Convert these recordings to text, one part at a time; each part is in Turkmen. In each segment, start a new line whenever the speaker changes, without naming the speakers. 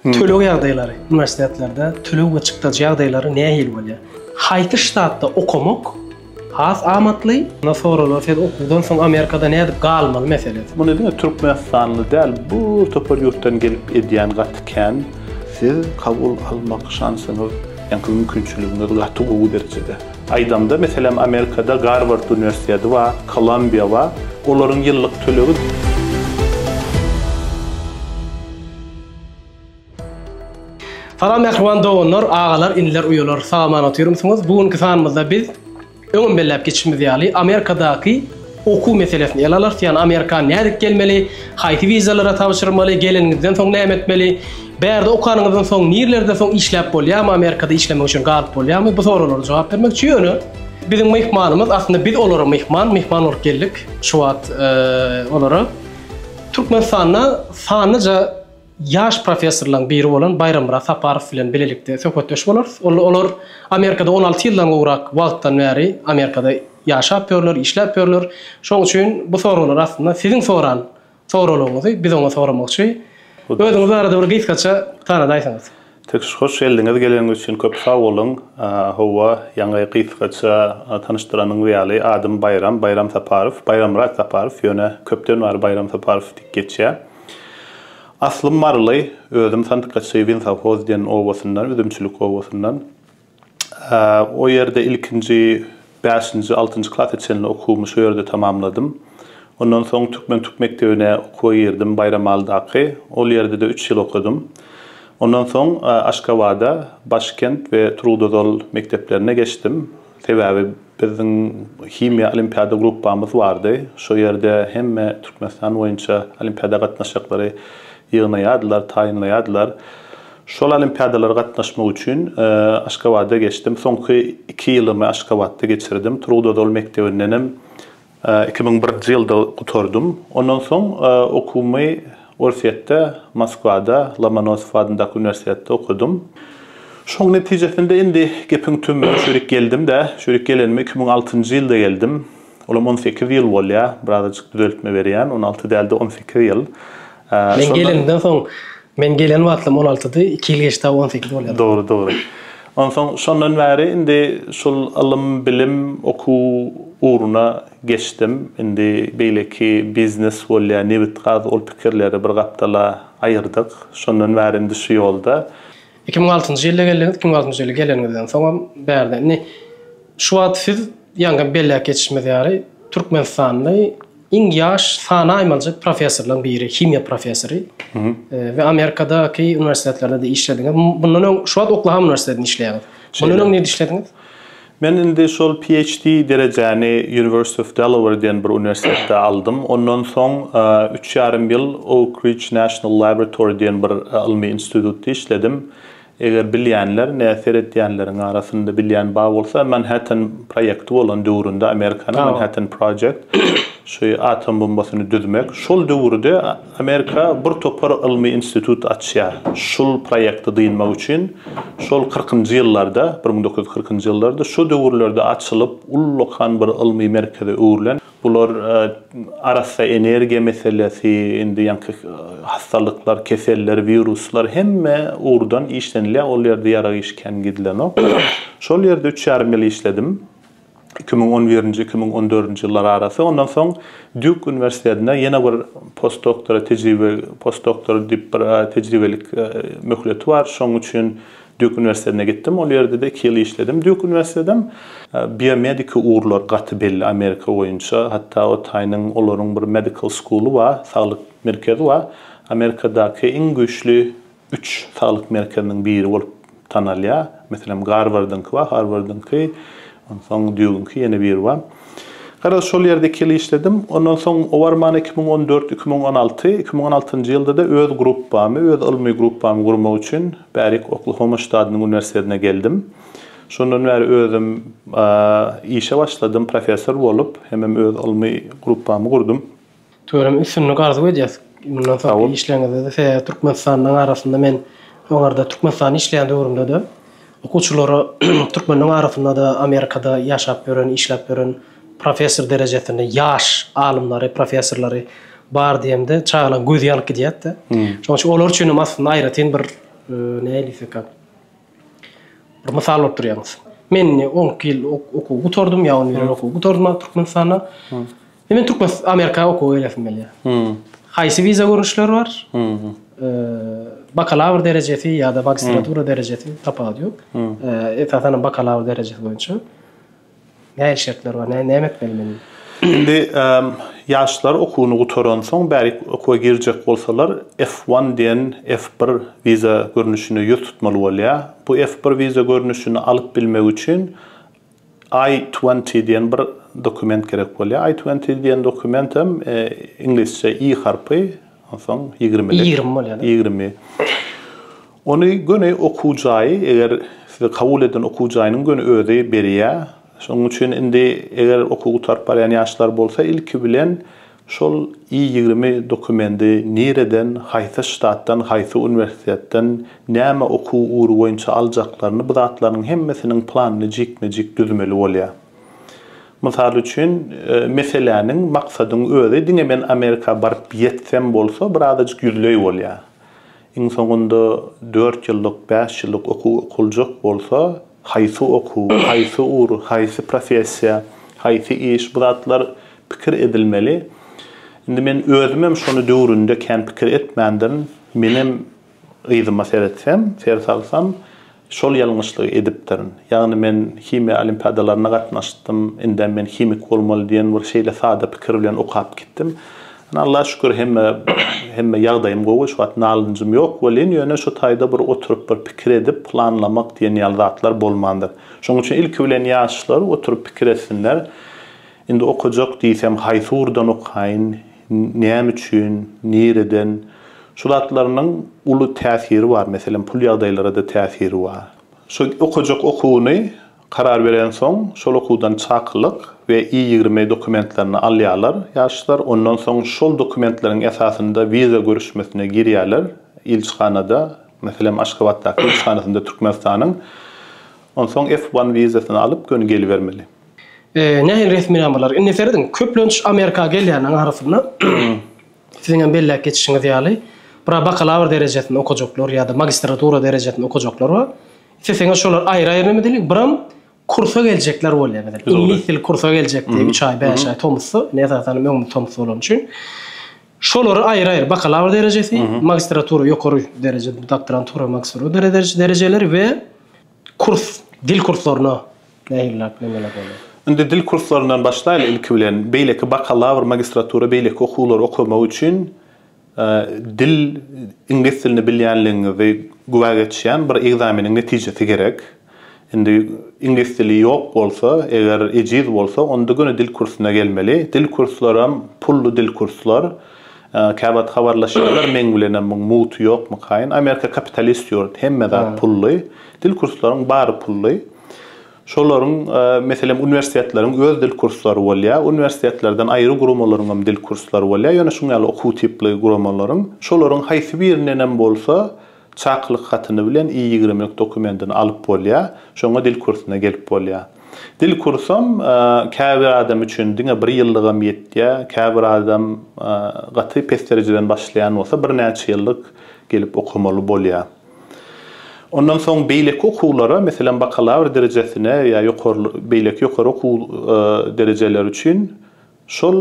Töleg ýagdaýlary, uniwersitetlerde töleg we çykdajy ýagdaýlary nähili bolýar? Haýsy ştatda okamak has amatly? Munda soralar siz okuwdan soň Amerikada nädip galmaly meselesi. Muny diňe türkmenistanly
däl bu topar ýurtdan gelip edýän gaty kän. Siz kabul almak şansyňyz ýaňky mümkinçiligiňiz gaty gowy derejede. Aýdamda meselem Amerikada Garward uniwersiteti bar, Kolumbiýa bar, olaryň ýyllyk tölegi.
Salam mähriban doganlar, agalar, iniler, uýalar, sag-aman otyrmysyňyz? Bu günki sanymyzda biz, öňem belläp geçişimiz ýaly, Amerikadaky okuw meselesini ele alarys, ýagny Amerika nädip gelmeli, haýsy wizalara tabşyrmaly, geleniňizden soň näme etmeli, bärde okanyňyzdan soň nirlerde soň işläp bolýarmy, Amerikada işlemek üçin galyp bolýarmy, bu soraglara jogap bermekçi, ýöne biziň myhmanymyz, aslynda biz olara myhman, myhman bolup geldik şu wagt olara. Türkmenistanda sanlyja ýaş professorlaryň biri bolan Baýrammyrat Saparow bilen bilelikde söhbetdeş bolarys. Olar Amerikada on alty ýyldan gowrak wagtdan bäri Amerikada ýaşap ýörler, işläp ýörler. Şonuň üçin bu soraglar aslynda siziň soran soraglaryňyzy biz oňa soramakçy. Özüňiz barada bir gysgaça tanadaýsaňyz. Tüş hoş
geldiňiz geleniňiz üçin köp sag boluň howwa ýaňy gysgaça tanyşdyranyňyz ýaly adym Baýram Baýram Saparow Baýramyrat Saparow ýöne köpden bäri Baýram Saparow diýip geçýär aslym maryly özüm sandykaçy winsawhoz diýen obasyndan üzümçilik obasyndan. O ýerde ilkinji bäşinji, altynjy klasa çenli okuwymy şu ýerde tamamladym. Ondan soň türkmen tüp mekdebine okuwa girdim, Baýramalydaky. Ol ýerde-de üç ýyl okadym. Ondan soň Aşgabada, Başkent we Turgutozal mekdeplerine geçdim. Sebäbi biziň himiýa olimpiada gruppamyz bardy. Şo ýerde hemme Türkmenistan boýunça olimpiada gatnaşaklary ýygnaýardylar, taýynlaýardylar. Şol olimpiadalara gatnaşmak üçin Aşgabada geçdim. Soňky iki ýylymy Aşgabatda geçirdim. Turgut Özal mekdebindenem iki müň birinji ýylda gutardym. Ondan soň okuwymy Orsýetde, Moskwada, Lomonosow adyndaky uniwersitetde okadym. Şoň netijesinde indi gepiň tümüne şu ýerik geldim-de, şu ýerik gelenime iki müň altynjy ýylda geldim. Olam on sekiz ýyl bolýar, birazajyk düzeltme berýän, on alty däl-de, on sekiz ýyl. Men
gelenimden soň, men gelen wagtlam on altydy, iki ýyl geçdi, on sekiz bolýar. Dogry, dogry.
Onsoň şondan bäri indi şul ylym, bilim, okuw ugruna geçdim. Indi beýleki biznes bolýar, nebit-gaz, ol pikirleri bir gapdala aýyrdyk. Şondan bäri indi şu ýolda. Iki müň altynjy
ýylda geldiňiz, iki müň altynjy ýylda geleniňizden soňam bärde. Indi şu wagt siz ýaňky belläp geçişimiz ýaly Türkmenistanly, Iň ýaş sanaýmaljy professorlaryň biri, himiýa professory we Amerikadaky uniwersitetlerde-de işlediňiz. Mundan öň şu wagt Oklahoma uniwersitetinde işleýäňiz. Mundan öň nirde işlediňiz? Men indi
şol PHD derejäni University of Delaware diýen bir uniwersitetde aldym. Ondan soň üç ýarym ýyl Oak Ridge National Laboratory diýen bir ylmy institutda işledim. Eger bilýänler, nä seretýänleriň arasynda bilýän bar bolsa, Manhattan proýekti bolan döwründe Amerikanyň Manhattan Project, şu atom bombasyny düzmek, şol döwürde Amerika bir topar ylmy institut açýar, şul proýekti dynmak üçin, şol kyrkynjy ýyllarda, bir müň dokuz ýüz kyrkynjy ýyllarda, şo döwürlerde açylyp, ullakan bir ylmy merkeze öwrülen, Bular arassa energiýa meselesi, indi ýaňky hassalyklar, keseller, wiruslar hemme ugurdan işlenilýär. Ol ýerde ýarag işi kän gidilenok. Şol ýerde üç ýarym ýyl işledim. Iki müň on birinji, iki müň on dördünji ýyllar arasy. Ondan soň Dýuk uniwersitetinde ýene bir postdoktora tejribe, postdoktor diýip bir tejribelik möhleti bar. Şonuň üçin Dýuk uniwersitetine gitdim, ol ýerde-de iki ýyl işledim. Dýuk uniwersitetedem biomediki ugurlar gaty belli Amerika boýunça. Hatda o taýynyň olaryň bir medical school-y bar, saglyk merkezi bar. Amerikadaky iň güýçli üç saglyk merkeziniň biri bolup tanalýar. Meselem, Garwardyňky bar, Harwardyňky Onsoň düýgünki ýene biri bar. Garaz, şol ýerde iki ýyl işledim. Ondan soň o barman iki müň on dört, iki müň on alty, iki müň on altynjy ýylda-da öz gruppamy, öz ylmy gruppamy gurmak üçin bärik Oklahoma ştadynyň uniwersitetine geldim. Şondan bäri özüm işe başladym, professor bolup, hemem öz ylmy gruppamy gurdum. Tutuyorum üstünlik
arzuw edýäs mundan soňky işleriňizde sebäbi Türkmenistanlyň arasynda men oňarda Türkmenistanda işleýän döwrümde-de okuwçylara türkmenleň arasynda-da Amerikada ýaşap ýören işläp ýören professor derejesinde ýaş alymlary professorlary bar diýemde çagalaň gözi ýanyp gidýärdi şoň üçin olar üçin hem aslynda aýratyn bir nähili diýseka bir mysal bolup durýaňyz men indi onki ýyl okuw gutardym ýa on bir ýyl okuw gutardym Türkmenistanda Indi men türkmen Amerika okuwa gelesim gelýär. Hmm. Haýsy wiza görnüşleri bar? Hmm. Bakalawr derejesi ýa-da magistratura derejesi tapawudy ýok. Hmm. Esasan hem bakalawr derejesi boýunça. Näme şertler bar? Näme näme etmeli men? Indi
ýaşlar okuwyny gutaran soň bärik okuwa girjek bolsalar F1 diýen F1 wiza görnüşine ýüz tutmaly bolýar. Bu F1 wiza görnüşini alyp bilmek üçin I twenty diýen bir dokument gerek bolýar. I twenty diýen dokument hem iňlisçe i harpy, onsoň ýigrimilik. Ýigrimi bolýar da. Ýigrimi. Ony göni okuw jaýy, eger sizi kabul eden okuw jaýynyň göni özi berýär. Şonuň üçin indi eger okuw gutaryp barýan ýaşlar bolsa, ilki bilen Şol I ýigrimi dokumendi nireden, haýsy ştatdan, haýsy uniwersitetden, näme okuw ugry boýunça aljaklaryny bu zatlarynyň hemmesiniň planyny jikme-jik düzmeli bolýar. Mysal üçin, meseläniň, maksadyň özi diňe men Amerika baryp ýetsem bolsa birazajyk ýüzleý bolýar. Iň soňunda dört ýyllyk, bäş ýyllyk okuw okuljak bolsa, haýsy okuw, haýsy ugur, haýsy professiýa, haýsy iş, bu zatlar pikir edilmeli. Indi men özümem şony döwründe kän pikir etmändirin. Menem yzyma seretsem, ser salsam, Şol ýalňyşlygy edipdirin. Ýagny men himiýa olimpiadalaryna gatnaşdym, indem men himik bolmaly diýen bir şeýle sada pikir bilen okap gitdim. Ine, Allaha şükür hemme hemme ýagdaýym gowy, şu wagt nalynjym ýok welin, ýöne şu taýda bir oturyp bir pikir edip, planlamak diýen ýaly zatlar bolmandyr. Şonuň üçin ilki bilen ýaşlar oturyp pikir etsinler, Indi okajak diýsem, haýsy ugurdan okaýyn? näme üçin, nireden, şu zatlarynyň uly täsiri bar, meselem, pul ýagdaýlara-da täsiri bar. Şu okajak okuwyny karar berensoň, şol okuwdan çakylyk we I ýigrimi dokumentlerini alýarlar ýaşlar, ondan soň şol dokumentleriň esasynda wiza görüşmesine girýärler ilçihanada, meselem, Aşgabatdaky ilçihanasynda Türkmenistanyň, onsoň F one wizasyny alyp, göni gelibermeli. Nähili
resminamalar? Indi serediň, köplenç Amerika gelýänleriň arasynda siziň hem belläp geçişiňiz ýaly, bura bakalawr derejesini okajaklar ýa-da magistratura derejesini okajaklar bar. Isleseňiz şolar aýry-aýry neme diýli, biram kursa geljekler bolýar, meselem, iňlis dili kursa geljek diýip, üç aý, bäş aý tomusda, indi esasan hem öňümiz tomus bolany üçin, şolary aýry-aýry, bakalawr derejesi, magistratura, ýokary dereje, doktorantura, magistratura derejeleri we Kurs, dil kurslaryna nähiliräk meňzeler bolýar? Indi dil kurslaryndan
başlaýly ilki bilen. Beýleki bakalawr, magistratura beýleki okuwlary okamak üçin dil, iňlis dilini bilýänligiňizi güwä geçýän bir ekzameniň netijesi gerek. Indi iňlis dili ýok bolsa, eger ejiz bolsa, onda göni dil kursuna gelmeli. Dil kurslaram pully dil kurslar. Käwagt habarlaşýarlar meň bilenem muň mugty ýokmykaýyn. Amerika kapitalist ýurt, hemme zat pully. Dil kurslaryň bary pully. Şolaryň meselem uniwersitetleriň öz dil kurslary bolýar. Uniwersitetlerden aýry guramalaryňam dil kurslary bolýar. Ýöne şuň ýaly okuw tipli guramalaryň. Şolaryň haýsy birindenem bolsa Çakylyk hatyny bilen I ýigrimlik dokumentini alyp bolýar, şoňa dil kursuna gelip bolýar. Dil kursam käbir adam üçin diňe bir ýyllygam ýetýär, käbir adam gaty pes derejeden başlaýan bolsa birnäçe ýyllyk gelip okamaly bolýar. Ondan soň beýleki okuwlara, meselem bakalawr derejesine ýa ýokary beýleki ýokary okuw derejeleri üçin Şol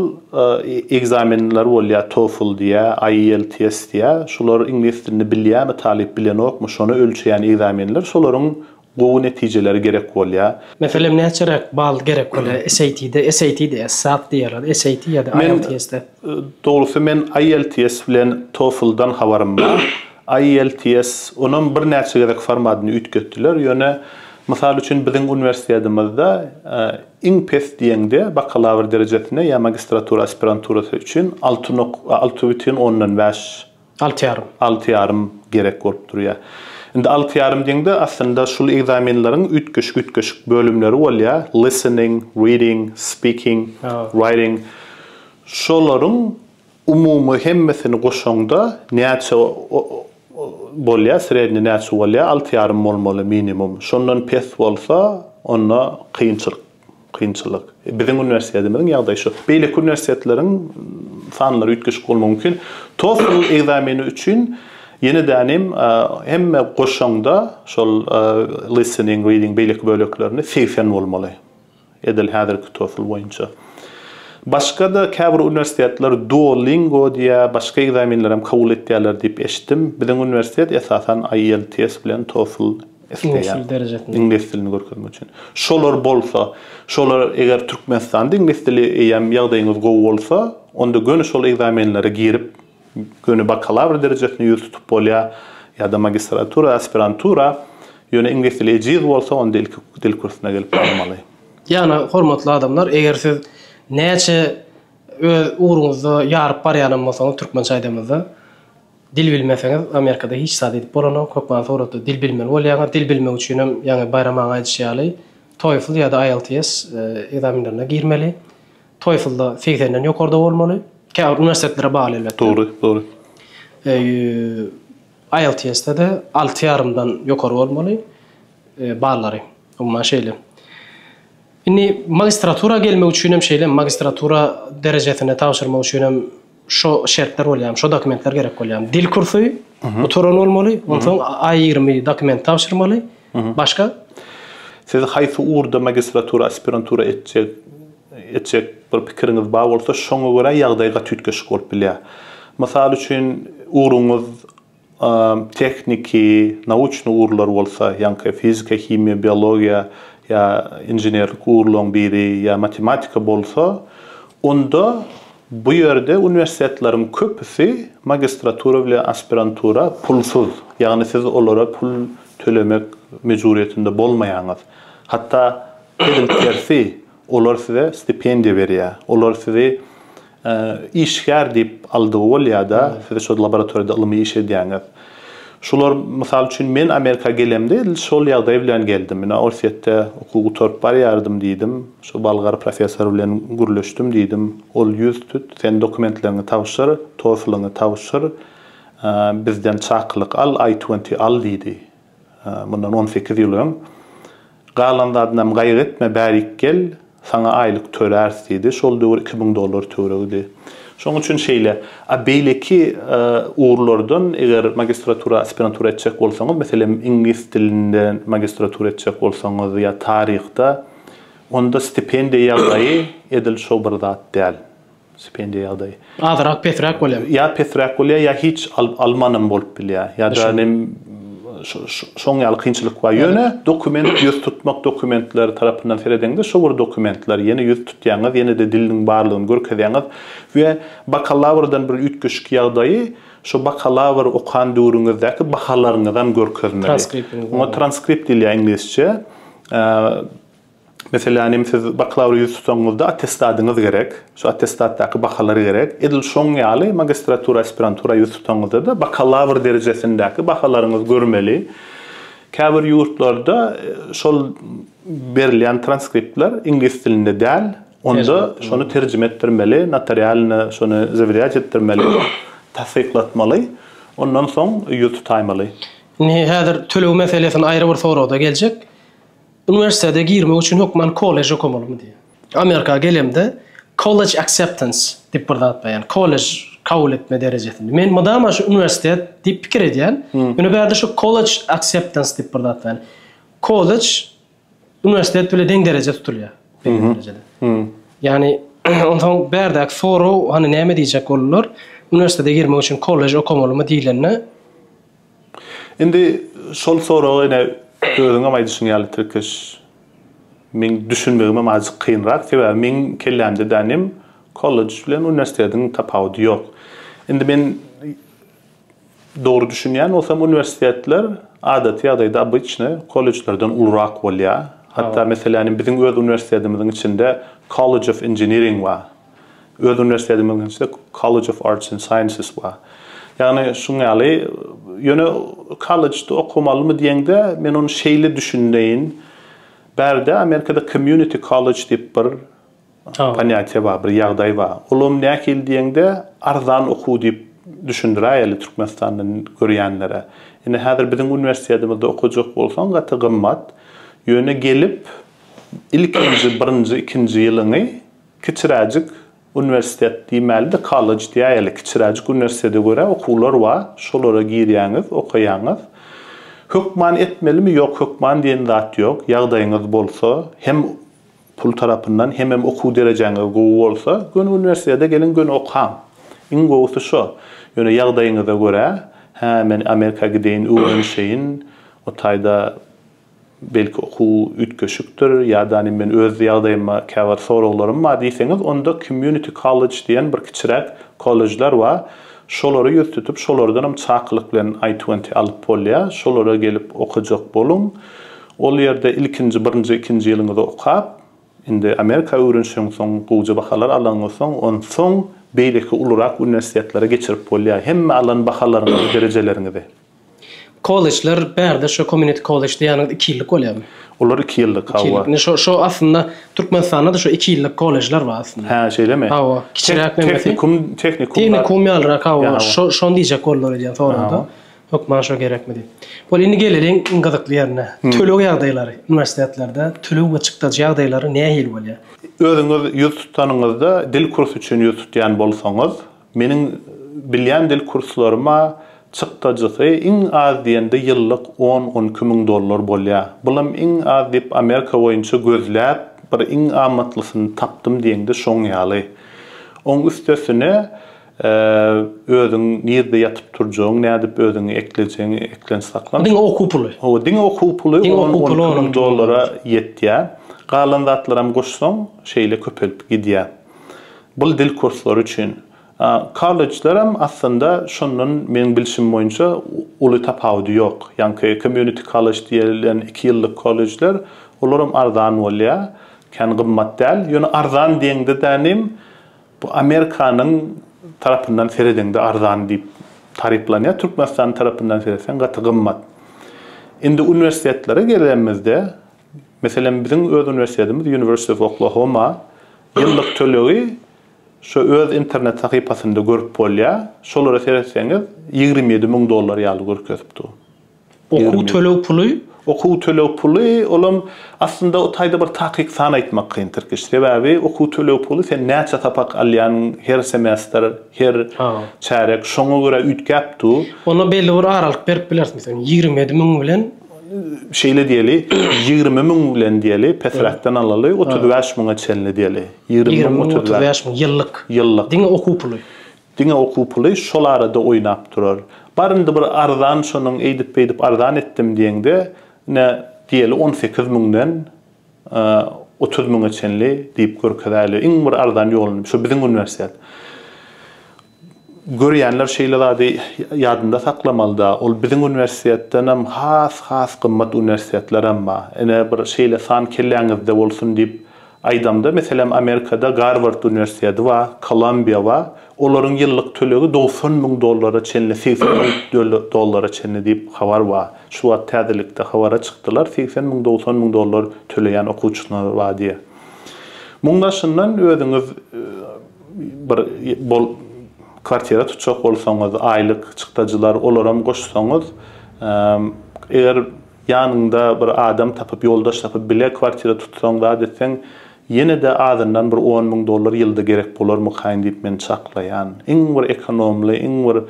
ekzamenler bolýar TOEFL diýä, IELTS diýä. Şular iňlis dilini bilýärmi talyp, bilenokmy, şony ölçeýän ekzamenler. Şolaryň gowy netijeleri gerek bolýar. Meselem näçeräk
bal gerek bolýar SAT-de, SAT diýýär, SAT diýýärler, SAT ýa-da IELTS-de? Dogrusy men
IELTS bilen TOEFL-dan habarym bar. IELTS, onam birnäçe gezek formadyny üýtgetdiler, ýöne, mysal üçin, biziň uniwersitetimiz-de, Iň pes diýeňde bakalawr derejesine ýa magistratura aspiranturasy üçin alty nok, alty bütin ondan bäş, Alty ýarym. alty ýarym gerek bolup durýar. Indi alty ýarym diýeňde aslynda şul ekzamenleriň üýtgeşik-üýtgeşik bölümleri bolýar, listening, reading, speaking, writing. Şolaryň Umumy hemmesini goşaňda näçe bolýar, srednýi näçe bolýar, alty ýarym bolmaly minimum. Şondan pes bolsa, onda kynçylyk, kynçylyk. Biziň uniwersitetimiziň ýagdaýy şu. Beýleki uniwersitetleriň sanlary üýtgeşik bolmagy mümkin. TOEFL ekzameni üçin ýene-de hem hemme goşaňda şol listening, reading beýleki böleklerini segsen bolmaly. edil häzirki TOEFL boýunça. Başga-da käbir uniwersitetler Duolingo diýýär, başga ekzamenlerem kabul etýärler diýip eşitdim. Biziň uniwersitet esasan IELTS bilen TOEFL isleýär.
Iňlis dilini
görkezmek üçin. Şolar bolsa, şolar eger Türkmenistanda iňlis dili eýýäm ýagdaýyňyz gowy bolsa, onda göni şol ekzamenlere girip, Göni bakalawr derejesini ýüz tutup bolýar ýa-da magistratura, aspirantura. Ýöne iňlis dili ejiz bolsa, onda ilki dil kursyna gelip barmaly. Ýagny, hormatly
adamlar, eger siz näçe öz ugruňyzda ýaryp barýanam bolsaňyz, türkmençe aýdamyzda, dil bilmeseňiz, Amerikada hiç zat edip bolanok. Hökman suratda dil bilmeli bolýaňyz. Dil bilmek üçinem, ýaňy Baýram aga aýdyşy ýaly, TOEFL ýa-da IELTS ekzaminlerine girmeli. TOEFL-da segsenden ýokarda bolmaly. Käbir uniwersitetlere bagly elbetde. Dogry, dogry. IELTS-de-de alty ýarymdan ýokary bolmaly ballary. Umuman şeýle. Indi magistratura gelmek üçinem şeýle, magistratura derejesine tabşyrmak üçinem Şo şertler bolýarmy, şo dokumentler gerek bolýarmy? Dil kursy gutaran bolmaly, onsoň aý ýigrimi dokument tabşyrmaly. Başga? Siz
haýsy ugurda magistratura, aspirantura etjek etjek bir pikiriňiz bar bolsa, şoňa görä ýagdaý gaty üýtgeşik bolup bilýär. Mysal üçin, ugruňyz. Tehniki, nauçny ugurlar bolsa, ýaňky fizika, himiýa, biologiýa ýa inženerlik ugurlaryň biri ýa matematika bolsa, onda bu ýerde uniwersitetleriň köpüsi magistratura bile aspirantura pulsuz, ýagny siz olara pul tölemek mejburyýetinde bolmaýaňyz. Hatda edil tersi, Olar size stipendiýa berýär. Olar sizi işgär diýip aldygy bolýar-da, siz şo laboratoriýada ylmy iş edýäňiz. Şular, mysal üçin, men Amerika gelemde edil şol ýagdaý bilen geldim. Ine, Orsýetde okuw gutaryp barýardym diýdim. Şu bolgar professor bilen gürleşdim diýdim. Ol ýüz tut, sen dokumentleriňi tabşyr, TOEFL-yňy tabşyr, bizden çakylyk al, I-20 al diýdi. Mundan on sekiz ýyl öň, Galan zadynam gaýgy etme, bärik gel, saňa aýlyk töläris diýdi. Şol döwür iki müň dollar töweregidi. Şoň üçin şeýle. A beýleki ugurlardan, eger magistratura, aspirantura etjek bolsaňyz, meselem, iňlis dilinde magistratura etjek bolsaňyz ýa taryhda, onda stipendiýa ýagdaýy edil şo bir zat däl. Stipendiýa ýagdaýy. Azyrak pesräk
bolýar. Ýa pesräk bolýar, ýa
hiç alyp almanam bolup bilýär. Ýa-da nem şoň ýaly kynçylyk bar. Ýöne dokument ýüz tutmak dokumentleri tarapyndan seredeňde şo bir dokumentler. Ýene ýüz tutýaňyz, ýene-de diliniň barlygyny görkezýäňiz we bakalawrdan bir üýtgeşik ýagdaýy şo bakalawr okan döwrüňizdäki bahalaryňyzam görkezmeli. Transkriptiňiz. Oňa transkript diýilýär iňlisçe. Meselem, hem siz bakalawra ýüz tutaňyzda attestadyňyz gerek, şu attestatdaky bahalar gerek. Edil şoň ýaly magistratura, aspirantura ýüz tutaňyzda-da bakalawr derejesindäki bahalaryňyz görmeli. Käbir ýurtlarda şol berilýän transkriptler iňlis dilinde däl, onda şony terjime etdirmeli, notarialno şony zawirýat etdirmeli, tassyklatmaly, ondan soň ýüz tutaýmaly. Indi häzir
töleg meselesini aýry bir soragda geljek. Uniwersitete girmek üçin hökman kollej okamalymy diýýär. Amerika gelemde college acceptance diýip bir zat bar, ýagny kollej kabul etme derejesini. Men mydama şu uniwersitet diýip pikir edýän. Ýöne bärde şu college acceptance diýip bir zat bar, ýagny kollej uniwersitet bile deň dereje tutulýar. Ýagny onsoň bärdäki sorag hany näme diýjek boldular? Uniwersitete girmek üçin kollej okamalymy diýlende
Indi şol soraga ine özüňem aýdyşyň ýaly tirkeş meň düşünmegimem azjyk kynrak sebäbi meň kellämde dänem kollej bilen uniwersitetiň tapawudy ýok. Indi men dogry düşünýän bolsam uniwersitetler adaty ýagdaýda obyçny kollejlerden ulurak bolýar. Hatda meselän biziň öz uniwersitetimiziň içinde College of Engineering bar. Öz uniwersitetimiziň içinde College of Arts and Sciences bar. Ýagny şuň ýaly, ýöne kollejde okamalymy diýeňde, men ony şeýle düşüneýin, bärde Amerikada community college diýip bir ponýatiýa bar, bir ýagdaý bar. Olam nähili diýeňde, arzan okuw diýip düşündiräýeli Türkmenistandan görýänlere. Indi häzir biziň uniwersitetimize okajak bolsaň gaty gymmat. Ýöne gelip ilkinji, birinji, ikinji ýylyňy Kiçiräjik uniwersitet diýmälide kollej diýäýeli. Kiçiräjik uniwersitete görä okuwlar bar. Şolara girýäňiz, okaýaňyz. Hökman etmelimi? Ýok, hökman diýen zat ýok. Ýagdaýyňyz bolsa, hem pul tarapyndan, hemem okuw derejäňiz gowy bolsa, göni uniwersitete geliň, göni okaň. Iň gowusy şo. Ýöne ýagdaýyňyza görä, Hä, men Amerika gideýin, öwrenişeýin, o taýda belki okuw üýtgeşikdir ýadany men öz ýagdaýyma käbir soraglarym bar diýseňiz onda community college diýen bir kiçiräk kollejler bar şolary ýüz tutup şolardanam çakylyk bilen I twenty alyp bolýar şolara gelip okajak boluň ol ýerde ilkinji birinji ikinji ýylyňyzy okap indi amerika öwrenişeň soň gowja bahalar alaňyz soň onsoň beýleki ulurak uniwersitetlere geçirip bolýar hemme alan bahalaryňyzy derejeleriňizi.
Kollejler bärde şu community college diýýäniňiz iki ýyllyk bolýarmy? Olar iki ýyllyk,
hawa. Indi şo şo aslynda
Türkmenistanda-da şu iki ýyllyk kollejler bar aslynda. Hä, şeýlemi? Hawa,
kiçiräk nämesi.
Tehnikum, tehnikumlar.
Tehnikum ýalyrak,
hawa, şo şony diýjek boldular edýän soragda. Hökman şo gerekmi diýip. Bol, indi geleliň iň gyzykly ýerine. Töleg ýagdaýlary uniwersitetlerde, töleg we çykdajy ýagdaýlary nähili bolýar? Özüňiz ýüz
tutanyňyzda, dil kursy üçin ýüz tutýan bolsaňyz, Meniň bilýän dil kurslarym-a çykdajysy iň az diýende ýyllyk on-on iki müň dollar bolýar. Bulam iň az diýip Amerika boýunça gözläp bir iň amatlysyny tapdym diýeňde şoň ýaly. Oň üstesine özüň nirde ýatyp turjagyň, nädip özüňi eklejegiňi eklenç saklan. Diňe okuw puly. Hawa,
diňe okuw puly
on-on iki müň dollara ýetýär. Galan zatlaram goşsaň şeýle köpelip gidýär. Bul dil kurslary üçin. Kollejler hem aslynda şondan meň bilşim boýunça uly tapawudy ýok. Ýaňky community college diýilen iki ýyllyk kollejler olar hem arzan bolýa. Kän gymmat däl. Ýöne arzan diýeňde dänim bu Amerikanyň tarapyndan seredeňde arzan diýip taryplanýa. Türkmenistanyň tarapyndan seretseň gaty gymmat. Indi uniwersitetlere gelenimizde Meselem, biziň öz uniwersitetimiz University of Oklahoma ýyllyk tölegi şu öz internet sahypasynda görüp bolýar. Şolara seretseňiz, ýigrimi ýedi müň dollar ýaly görkezip dur. Okuw
töleg puly? Okuw töleg
puly, olam aslynda o taýda bir takyk san aýtmak kyn, Tirkiş. Sebäbi okuw töleg puly sen näçe sapak alýanyň, her semestr, her çärek, şoňa görä üýtgäp dur. Onda belli bir
aralyk berip bileris, meselem, ýigrimi ýedi müň bilen. şeýle
diýeli, ýigrimi müň bilen diýeli, pesräkden alaly, otuz bäş müňe çenli diýeli. Ýigrimi müň, otuz bäş
müň, ýyllyk. Ýyllyk. Diňe okuw puly. Diňe okuw
puly şol arada oýnap durar. Bar indi bir arzan şonuň eýdip-beýdip arzan etdim diýeňde, ine, diýeli, on sekiz müňden otuz müňe çenli diýip görkezäýeli. Iň bir arzan ýoluny, şu biziň uniwersitet. Görýänler şeýle zady ýadynda saklamalyda, ol biziň uniwersitetdenem has-has gymmat uniwersitetler emma, ine, bir şeýle san kelläňizde bolsun diýip aýdamda, meselem, Amerikada Garward uniwersiteti bar, Kolumbiýa bar, olaryň ýyllyk tölegi dogsan müň dollara çenli, segsen müň dollara çenli diýip habar bar. Şu wagt täzelikde habara çykdylar, segsen müň, dogsan müň dollar töleýän okuwçylar bar diýip. Muň daşyndan özüňiz. bir bol kwartira tutjak bolsaňyz aýlyk çykdajylar olaram goşsaňyz eger ýanyňda bir adam tapyp ýoldaş tapyp bile kwartira tutsaň zat etseň ýene-de azyndan bir on müň dollar ýylda gerek bolarmykaýyn diýip men çaklaýan iň bir ekonomly iň bir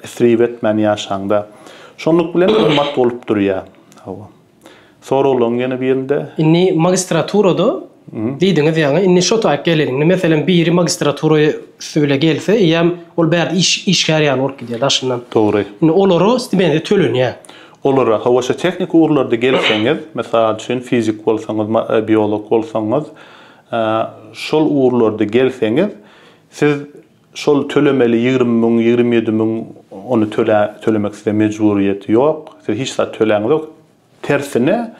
isrip etmän ýaşaňda şonluk bilen gymmat bolup durýar hawa. Soraglaň ýene birinde. Indi magistraturada
diýdiňiz ýaňy, indi şo taýyp geleliň. Indi meselem biri magistratura üsti bile gelse, eýýäm ol bärde iş, işgär ýaly bolup gidýär daşyndan. Dogry. Indi olara
stipendiýa
tölenýär. Olara, hawa
şo tehniki ugurlarda gelseňiz, mysal üçin fizik bolsaňyz, ma, biolog bolsaňyz, şol ugurlarda gelseňiz, siz Şol tölemeli ýigrimi müň, ýigrimi ýedi müň ony tölä, tölemek size mejburyýet ýok. Siz hiç zat töläňiz ýok. Tersine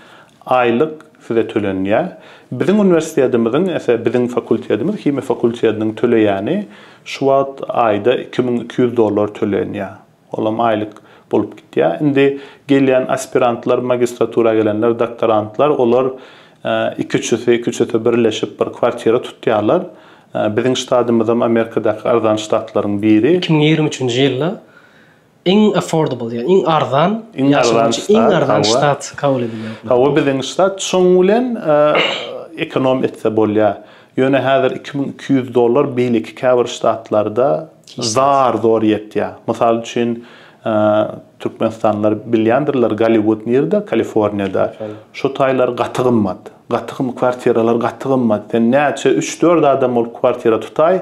aýlyk size tölenýär. Biziň uniwersitetimiziň, ese biziň fakultetimiz, himiýa fakultetiniň töleýäni şu wagt aýda iki müň iki ýüz dollar tölenýär. Olam aýlyk bolup gitýär. Indi gelýän aspirantlar, magistratura gelenler, doktorantlar, olar iki-üçüsi, iki-üçüsi birleşip bir kwartira tutýarlar. Biziň ştadymyzam Amerikadaky arzan ştatlaryň biri. Iki müň ýigrimi üçünji ýylda
iň affordable, ýagny iň arzan, iň arzan ştat, iň arzan ştat
kabul edilýär. Hawa,
biziň
ştat şoň bilen ekonom etse bolýar. Ýöne häzir iki müň iki ýüz dollar beýleki käbir ştatlarda zar-zor ýetýär. Mysal üçin, türkmenistanlylar bilýändirler, Golliwud nirede? Kaliforniýada. Şo taýlar gaty gymmat. Gaty gymmat, kwartiralar gaty gymmat. Sen näçe, üç-dört adam bolup kwartira tutaý,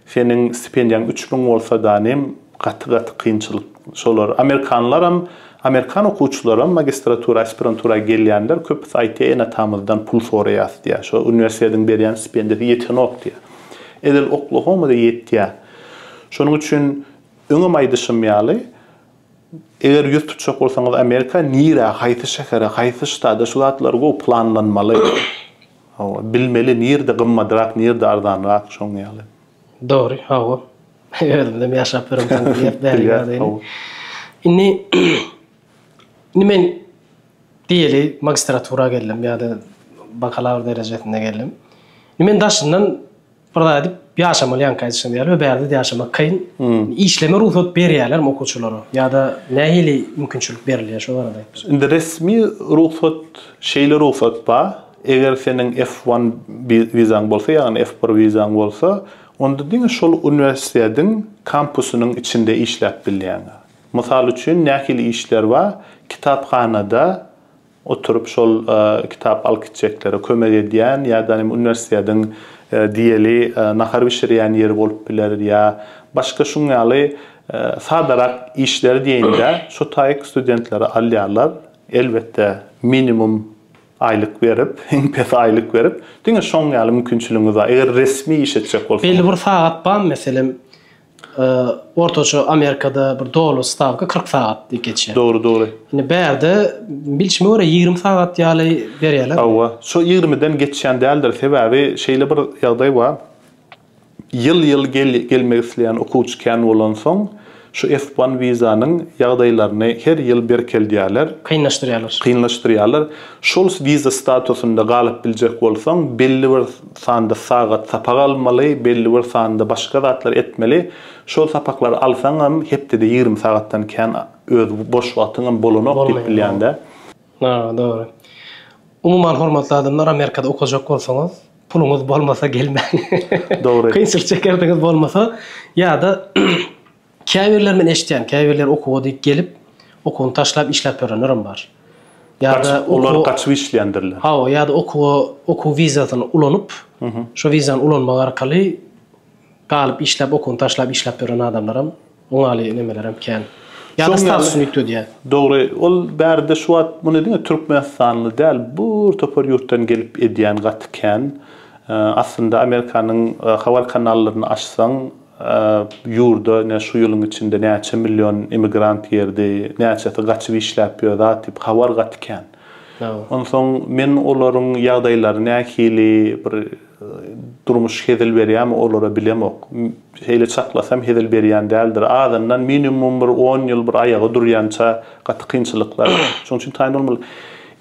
Seniň stipendiýaň üç müň bolsa danem gaty gaty kynçylyk şolar amerikanlaram amerikan okuwçylaram magistratura aspirantura gelýänler köpüsi aýtýar enatamyzdan pul soraýas diýýär şo uniwersitediň berýän stipendiýasy ýetenok diýýär edil oklahomada ýetýär şonuň üçin öňem aýdyşym ýaly eger ýüz tutjak bolsaňyz amerika nirä haýsy şähere haýsy ştada şu zatlar gowy planlanmaly. Hawa, bilmeli nirde gymmadrak, nirde arzanrak, şoň ýaly. Dogry, hawa.
Özümdem ýaşap ýöremsoň bilýär, bäri ýagdaýyny. Indi Indi men diýeli magistratura geldim ýa-da bakalawr derejesinde geldim. Men daşyndan Bir zat edip ýaşamaly ýaňky aýdyşyňyz ýaly we bärde ýaşamak kyn. Işleme rugsat berýärlermi okuwçylara ýa-da nähili mümkinçilik berilýär şo barada aýtsaňyz. Indi resmi
rugsat şeýle rugsat bar, eger seniň F one wizaň bolsa ýagny F bir wizaň bolsa onda diňe şol uniwersitetiň kampusynyň içinde işläp bilýäňiz. Mysal üçin nähili işler bar kitaphanada oturyp şol kitap alyp gitjeklere kömek edýän ýa-da uniwersitetiň diýeli nahar bişirýän ýeri bolup biler ýa başga şuň ýaly sadarak işler diýeýin-de şo taýyk studentleri alýarlar, elbetde minimum aýlyk berip, iň pes aýlyk berip, diňe şoň ýaly mümkinçiligiňiz bar, eger resmi iş etjek bolsaňyz. Belli bir sagat barmy,
meselem, ortaça Amerikada bir doly stawka 40 sagat diýip geçýär. Dogry, dogry. Indi
bärde
bilşime görä 20 sagat ýaly berýärler. Hawa, şo 20-den
geçýän däldir. Sebäbi şeýle bir ýagdaý bar. Ýyl-ýyl gelmek isleýän okuwçy kän bolansoň, şu F-one wizanyň ýagdaýlaryny her ýyl berkeldýärler. Kynlaşdyrýarlar. Kynlaşdyrýarlar. Şol wiza statusynda galyp biljek bolsaň, belli bir sanda sagat sapak almaly, belli bir sanda başga zatlar etmeli. Şol sapaklary alsaňam, hepdede ýigrimi sagatdan kän öz boş wagtyňam bolanok diýip bilýän-dä. Hawa,
dogry. Umuman, hormatly adamlar, Amerikada okajak bolsaňyz, puluňyz bolmasa gelmäň. Dogry. Kynçylyk
çekerdiňiz
bolmasa ýa-da Käbirleri men eşitýän, käbirleri okuwa diýip gelip, okuwyny taşlap işläp ýörenlerem bar. Ýa-da Gaçyp,
olar okuwa, gaçyp işleýändirler. hawa, ýa-da okuwa,
okuw wizasyny ulanyp, şo wizany ulanmak arkaly galyp işläp, okuwyny taşlap işläp ýören adamlaram, oňaly nemelerem kän. Ýa-da Şoň ýaly. statusyny üýtgedýär. Dogry, ol
bärde şu wagt muny diňe türkmenistanly däl, bir topar ýurtdan gelip edýän gaty kän. Aslynda Amerikanyň habar kanallaryny açsaň, Ýurda ine şu ýylyň içinde näçe million emigrant girdi, näçesi gaçyp işläp ýör zat diýip habar gaty kän. Onsoň men olaryň ýagdaýlary nähili, bir durmuş hezil berýärmi olara bilemok. Şeýle çaklasam hezil berýän däldir. Azyndan minimum bir on ýyl bir aýaga durýança gaty kynçylyklar. Şonuň üçin taýyn bolmaly.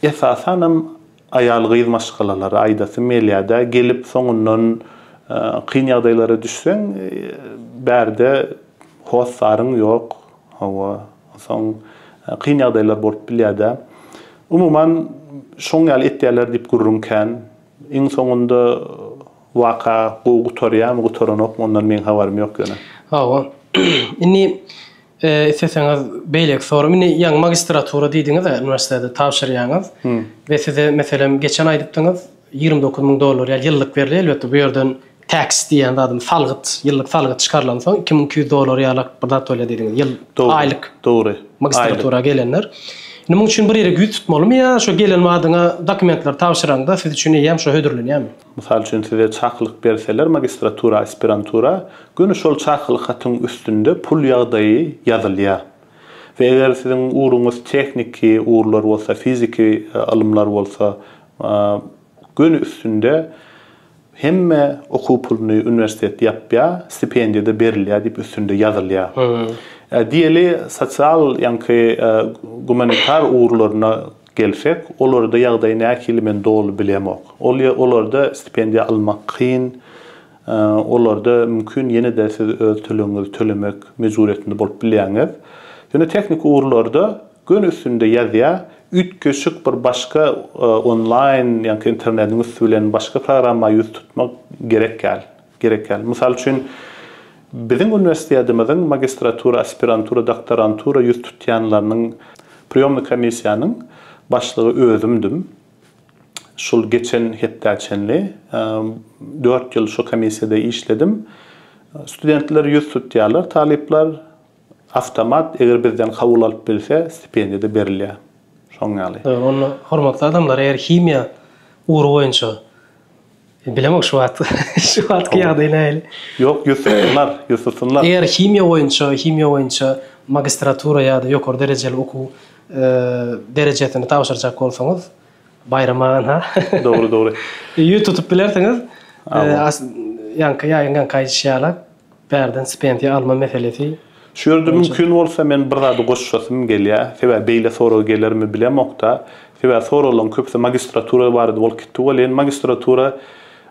Esasanam Aýal-gyz maşgalalary, aýdasym gelýär-dä, gelip, soňundan kyn ýagdaýlara düşseň, bärde hossaryn ýok, hawa, onsoň kyn ýagdaýlar bolup bilýär-dä. Umuman, şoň ýaly etýärler diýip gürrüň kän. Iň soňunda waka gowy gutarýarmy, gutaranokmy, ondan meň habarym ýok ýöne. Hawa. Indi
Isleseňiz beýleki sorum, indi ýaňy magistratura diýdiňiz-ä, uniwersitete tabşyrýaňyz we size meselem geçen aýdypdyňyz, ýigrimi dokuz müň dollar ýaly ýyllyk berilýär, elbetde bu ýerden tax diýýän zadyň salgyt, ýyllyk salgyt çykarylansoň iki müň iki ýüz dollar ýaly bir zat bolýar diýdiňiz, ýyl, aýlyk. Dogry. Magistratura
gelenler.
Indi munuň üçin bir ýere ýüz tutmalymy ýa şo gelen badyňa dokumentleri tabşyraňda siz üçin eýýäm şo hödürlenýärmi? Mysal üçin size
çakylyk berseler magistratura, aspirantura göni şol çakylyk hatyň üstünde pul ýagdaýy ýazylýar. We eger siziň ugruňyz tehniki ugurlar bolsa, fiziki ylymlar bolsa göni üstünde hemme okuw puluny uniwersitet ýapýar, stipendiýada berilýär diýip üstünde ýazylýar. Diýeli sosial ýaňky gumanitar ugurlaryna gelsek, olarda ýagdaý nähili men doly bilemok. Ol ýer olarda stipendiýa almak kyn, olarda mümkin ýene-de siz öz tölegiňizi tölemek mejburyýetinde bolup bilýäňiz. Ýöne tehniki ugurlarda göni üstünde ýazýar, üýtgeşik bir başga onlaýn, ýaňky internediň üsti bilen başga programma ýüz tutmak gerekýär. gerekýär. Mysal üçin, biziň uniwersitetimiziň magistratura, aspirantura, doktorantura ýüz tutýanlarynyň priýomny komissiýanyň başlygy özümdim. Şul geçen hepdä çenli dört ýyl şu komissiýada işledim. Studentler ýüz tutýarlar, talyplar awtomat, eger bizden kabul alyp bilse, stipendiýa-da berilýär. Şoň ýaly. Onda hormatly
adamlar, eger himiýa ugry boýunça Bilemok şu wagt, şu wagtky ýagdaý nähili. Ýok, ýüz tutsynlar,
ýüz tutsynlar. Eger himiýa boýunça,
himiýa boýunça magistratura ýa-da ýokary derejeli okuw derejesini tabşyrjak bolsaňyz, Baýram agan-ha. Dogry, dogry.
Ýüz tutup
bilersiňiz. Ýaňky ýaýyň ýaňky aýdyşy ýaly. Bärden stipendiýa alma meselesi. Şu ýerde mümkin
bolsa men bir zady goşasym gelýär. Sebäbi beýle sorag gelermi bilemokda. Sebäbi soraglaryň köpüsi magistratura barada bolup gitdi welin, magistratura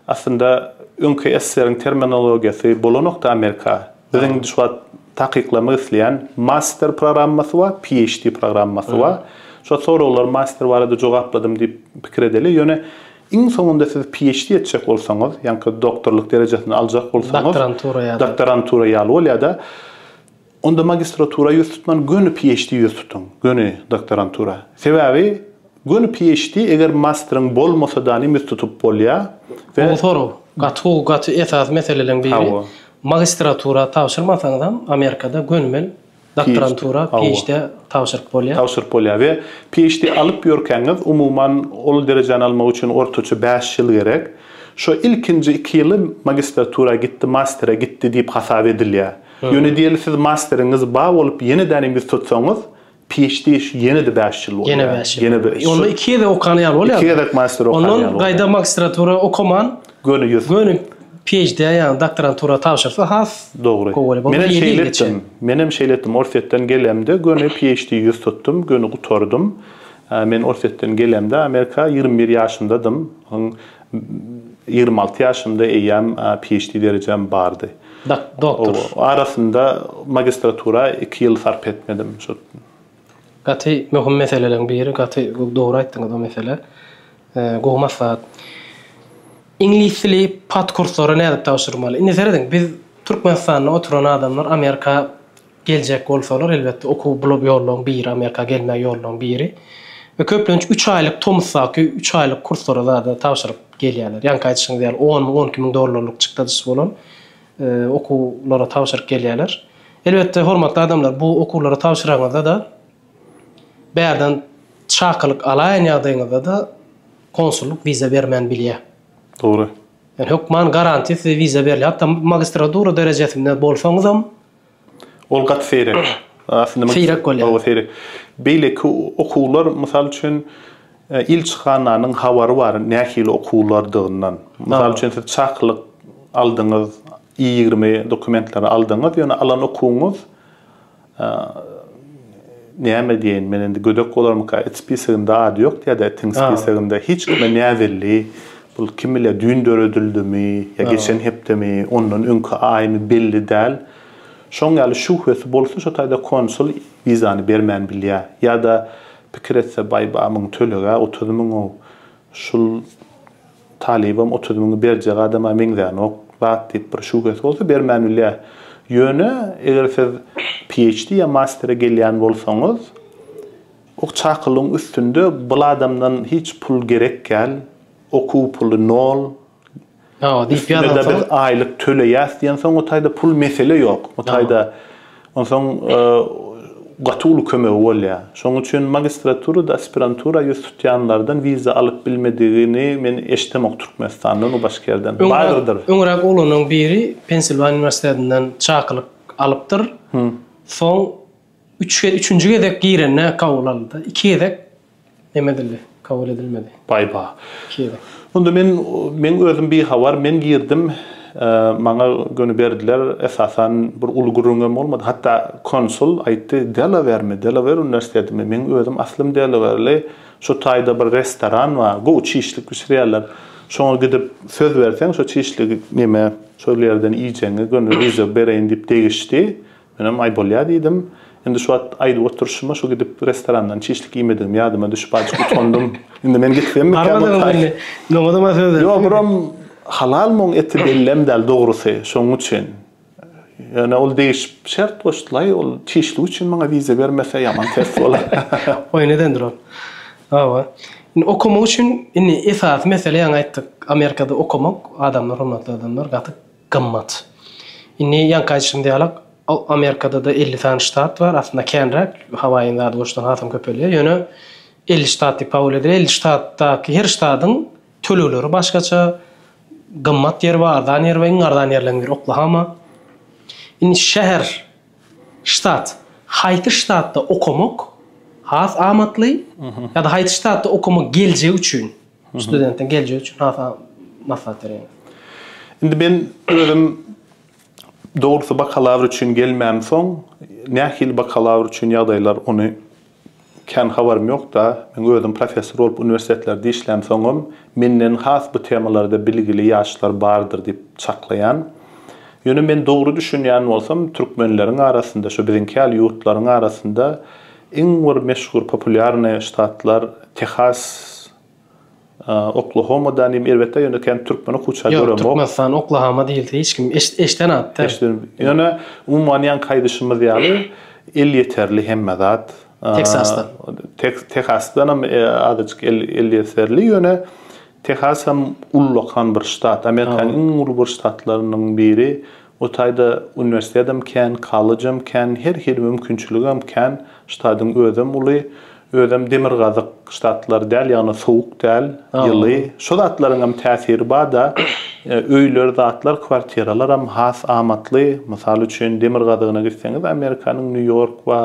aslynda öňki SSR-iň terminologiýasy bolanokda Amerika. Biziň indi şu wagt takyklamak isleýän master programmasy bar, PHD programmasy bar. Şol soraglar master barada jogapladym diýip pikir edeli. Ýöne. Iň soňunda siz PHD etjek bolsaňyz, ýaňky doktorlyk derejesini aljak bolsaňyz, Doktorantura ýa-da. doktorantura ýaly bolýar-da, onda magistratura ýüz tutman, göni PHD ýüz tutuň, göni doktorantura. Sebäbi göni PHD, eger masteryň bolmasa-danm ýüz tutup bolýar we. Gowy sorag.
Gaty gowy, gaty esasy meseleleň biri. Hawa. Magistratura tabşyrmasaňyzam, Amerikada gönümel. Doktorantura PHD-ä tabşyryp bolýar. Tabşyryp bolýar we PHD
alyp ýörkäňiz, umuman, ol derejäni almak üçin ortaça bäş ýyl gerek. Şo ilkinji iki ýyly magistratura gitdi, mastere gitdi diýip hasap edilýär. Ýöne diýeli siz masteriňiz bar bolup ýene-de ýene ýüz tutsaňyz, PHD şu ýene-de bäş ýyl bolýar. Ýene bäş ýyl. Ýene bäş ýyl. Onda iki gezek okan
ýaly bolýar. Iki gezek master okan ýaly bolýar.
Ondan gaýda magistratura
okaman. Göni ýüz. Göni PHD-ä ýaňy doktorantura tabşyrsa has Dogry. gowy bolar. Menem
şeýle etdim. Menem şeýle etdim. Orsýetden gelemde göni PHD ýüz tutdum, göni gutardym. Men Orsýetden gelemde Amerika ýigrimi bir ýaşymdadym. Soň ýigrimi alty ýaşymda eýýäm PHD derejäm bardy. Doktor.
Arasynda
magistratura iki ýyl sarp etmedim. Şu
Gaty möhüm meseleleň biri gaty dogry aýtdyňyz o mesele gowy maslahat. Iňlis dili pat kurslara nädip tabşyrmaly? Indi serediň biz Türkmenistanda oturan adamlar Amerika geljek bolsalar elbetde okuw bul ýollaň biri Amerika gelme ýollaň biri we köplenç üç aýlyk tomusdaky üç aýlyk kurslara zada tabşyryp gelýärler. Ýaňky aýdyşyňyz ýaly on müň on iki müň dollarlyk çykdadyşy bolan okuwlara tabşyryp gelýärler. Elbetde, hormatly adamlar, bu okuwlara tabşyranyňyzda-da, bärden çakylyk alaýan ýagdaýyňyzda-da konsullyk wiza bermän bilýär. Dogry.
Ýöne hökman
garantiýa size wiza berilýär. Hatda magistradura derejesinde bolsaňyzam, Ol
gaty seýrek. Aslynda men Seýrek bolýar. Hawa, seýrek. Beýleki okuwlar, mysal üçin, ilçihananyň habary bar nähili okuwlardygyndan. Mysal üçin, siz çakylyk aldyňyz, I ýigrimi dokumentleri aldyňyz, ýöne alan okuwyňyz, näme diýeýin, men indi gödek bolarmyka, it spisagynda ady ýok ýa-da itiň spisagynda hiç kime näbelli Bul kim bilýär düýn döredildimi ýa geçen hepdemi, ondan öňki aýmy belli däl. Şoň ýaly şübhesi bolsa şo taýda konsul wizany bermän bilýär. Ýa-da pikir etse baý-ba muň tölege otuz müň-ow. Şul talybam otuz müňi berjek adama meňzänok zat diýip bir şübhesi bolsa bermän bilýär. Ýöne eger siz PHD ýa mastere gelýän bolsaňyz Ok çakylygyň üstünde bul adamdan hiç pul gerekgäl, okuw puly nol, üstünde-de
biz aýlyk töleýäs
diýensoň o taýda pul mesele ýok. O taýda onsoň gaty uly kömegi bolýar. Şonuň üçin magistraturada aspirantura ýüz tutýanlardan wiza alyp bilmedigini men eşidemok Türkmenistandan o başga ýerden. Bardyr. Öňräk oglanyň
biri Pensilwaniýa uniwersitetinden çakylyk alypdyr. Soň Üç ge, üçünji gezek girende kabul aldy. Iki gezek neme edildi, kabul edilmedi. Baý-ba. Iki
gezek.
Onda men,
men özüm bihabar, men girdim, maňa göni berdiler, esasan bir uly gürrüňem bolmady. Hatda konsul aýtdy, Delawermi, Delawer uniwersitetimi, meň özüm aslym delawerli, şu taýda bir restoran bar, gowy çişlik bişirýärler, şoňa gidip söz berseň, şo çişligi neme, şol ýerden iýjegiňi göni ryža bereýin diýip degişdi. Menem aý bolýa diýdim. Indi şu wagt aýdyp oturyşyma şu gidip restorandan çişlik iýmedigim ýadyma düşüp azjyk utandym. Indi men gitsemmikä bu
taý? Ýok buram
halal muň eti bellem däl dogrusy şoň üçin. Ýöne ol degişip şert goşdulaý ol çişlik üçin maňa wiza bermese ýaman ters bolar. Oýun edendir
ol. Hawa. Indi okamak üçin indi esasy mesele ýaňy aýtdyk Amerikada okamak adamlar hormatly adamlar gaty gymmat. Indi ýaňky aýdyşym diýalak, Amerikada-da elli sany ştat bar, aslynda känräk, Hawaýyň zady goşsaň hasam köpelýär, ýöne elli ştat diýip kabul edilýär. Elli ştatdaky her ştadyň tölegleri başgaça, gymmat ýeri bar, arzan ýeri bar, iň arzan ýerleriň biri Oklahoma. Indi şäher, ştat, haýsy ştatda okamak has amatly ýa-da haýsy ştatda okamak geljek üçin, Studentiň geljegi üçin has maslahat bereýin. Indi men
özüm dogrusy bakalawr üçin gelmän soň nähili bakalawr üçin ýagdaýlar ony kän habarym ýokda. Men özüm professor bolup uniwersitetlerde işlän soňam menden has bu temalarda bilgili ýaşlar bardyr diýip çaklaýan. Ýöne men dogry düşünýän bolsam türkmenleriň arasynda şu biziňki ýaly ýurtlaryň arasynda Iň bir meşhur populýarnyý ştatlar Tehas, Oklahoma dänim erbetde ýöne kän türkmen okuwça göremok. Ýok Türkmenistan Oklahoma
diýilse hiç kim eşden at da. Eşden ýöne
umuman ýanky aýdyşymyz ýaly elýeterli hemme zat.
Teksasdan.
Tehasdanam azajyk elýeterli ýöne Tehasam ullakan bir ştat Amerikanyň iň uly bir ştatlarynyň biri O taýda uniwersitetem kän, kollejam kän, her hili mümkinçiligem kän, ştadyň özem uly, özem demirgazyk ştatlar däl, ýagny sowuk däl, ýyly, şo zatlaryňam täsiri bar-da, öýler, zatlar, kwartiralaram has amatly, mysal üçin, demirgazygyna gitseňiz, Amerikanyň Nýu-Ýork we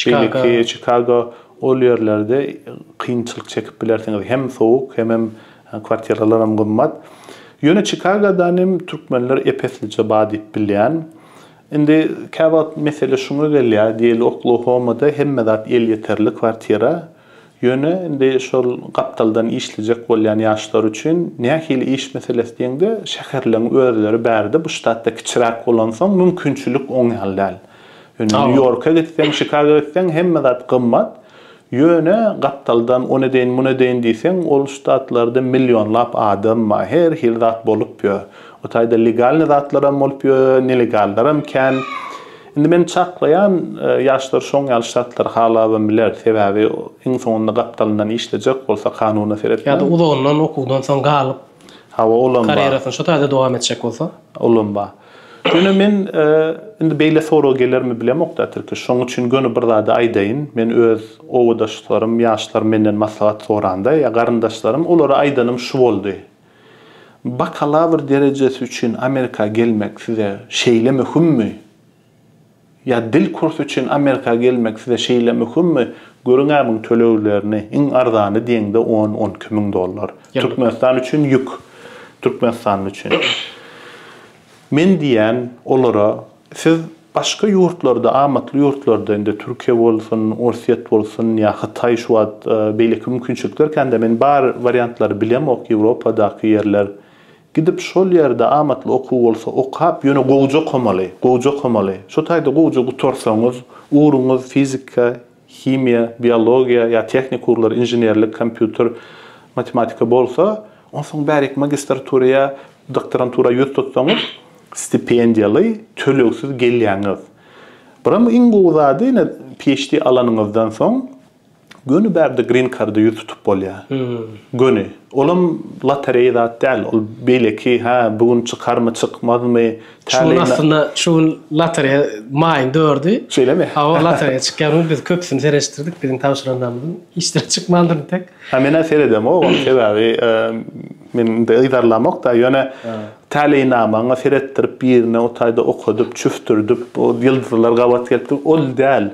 beýleki, Çikago, ol ýerlerde kynçylyk çekip bilersiňiz, hem sowuk, hemem Kwartiralaram gymmat. Ýöne Çikagodan hem türkmenler ep-eslije bar diýip bilýän. Indi käwagt mesele şuňa gelýär, diýeli Oklahomada hemme zat elýeterli kwartira. Ýöne indi şol gapdaldan işlejek bolýan ýaşlar üçin nähili iş meselesi diýeňde, şäherleň özleri bärde bu ştatda kiçiräk bolansoň mümkinçilik oň ýaly däl. Ýöne Nýu-Ýorka gitseň, Çikagoa gitseň hemme zat gymmat. Ýöne gapdaldan on edeýin, mun edeýin diýseň, ol ştatlarda millionlap adam bar, her hili zat bolup ýör. O taýda legalnyý zatlaram bolup ýör, nelegallaram kän. Indi men çaklaýan, ýaşlar şoň ýaly ştatlary halabam biler, sebäbi iň soňunda gapdalyndan işlejek bolsa, kanuna seretmän. Ýa-da uzagyndan okuwdan
soň galyp, Hawa, olam bar. Karýerasyny şo taýda dowam etjek bolsa. Olam bar.
Ýöne men, indi beýle sorag gelermi bilemok-da, Tirkiş. Şonuň üçin göni bir zady aýdaýyn. Men öz obadaşlarym, ýaşlarym menden maslahat soranda ýa garyndaşlarym, olara aýdanym şu boldy, Bakalawr derejesi üçin Amerika gelmek size şeýle möhümmi? Ýa dil kursy üçin Amerika gelmek size şeýle möhümmi? Görüň-ä muň töleglerini, iň arzany diýeňde on, on iki müň dollar. Türkmenistan üçin ýük. Türkmenistanly üçin. Men diýýän olara, siz başga ýurtlarda, amatly ýurtlarda, indi Türkiýe bolsun, Orsýet bolsun ýa Hytaý şu wagt beýleki mümkinçilikler kän-de, men bar wariantlary bilemok, Ýewropadaky ýerler, Gidip şol ýerde amatly okuw bolsa okap ýöne gowja okamaly, gowja okamaly. Şo taýda gowja gutarsaňyz, ugruňyz fizika, himiýa, biologiýa ýa tehnik ugurlar, inženerlik, kompýuter, matematika bolsa, onsoň bäriki magistratura ýa doktorantura ýüz tutsaňyz, stipendiýaly, tölegsiz gelýäňiz. Biram iň gowy zady ine PHD alanyňyzdan soň, Göni bärde green karda ýüz tutup bolýa. Göni. Olam lotereýa zat däl. Ol beýleki, hä, bu gün çykarmy, çykmazmy, Şu gün aslynda,
şu gün lotereýa maýyň dördi. Şeýlemi? Hawa, lotereýa
çykýan
gün biz köpüsini seretişdirdik. Biziň tabşyranlarymyzyň hiç biri çykmandyr entek. Hä, men-ä seredemok
ony, sebäbi men indi yzarlamok-da. Ýöne täleýnamaňa seretdirip birine o taýda okadyp, çüftürdip, ýyldyzlar gabat gelipdir, ol däl.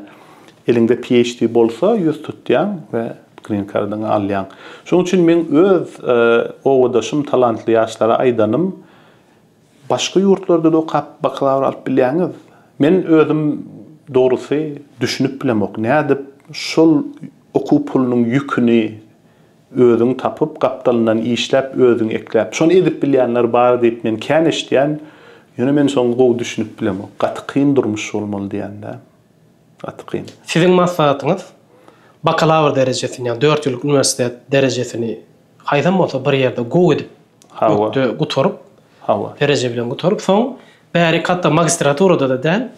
Eliňde PHD bolsa ýüz tutýaň we green kardyňy alýaň. Şonuň üçin meň öz obadaşym talantly ýaşlara aýdanym, başga ýurtlarda-da okap bakalawr alyp bilýäňiz. Men özüm dogrusy düşünip bilemok, nädip şol okuw pulunyň ýüküni özüň tapyp, gapdalyndan işläp, özüň ekläp. Şony edip bilýänler bar diýip men kän eşidýän, ýöne men şoňa gowy düşünip bilemok. Gaty kyn durmuş bolmaly diýen-dä. Gaty kyn. Siziň
maslahatyňyz bakalawr derejesini ýa dört ýyllyk uniwersitet derejesini haýsam bolsa bir ýerde gowy edip ökde gutaryp hawa dereje bilen gutaryp soň bärik hatda magistraturada-da däl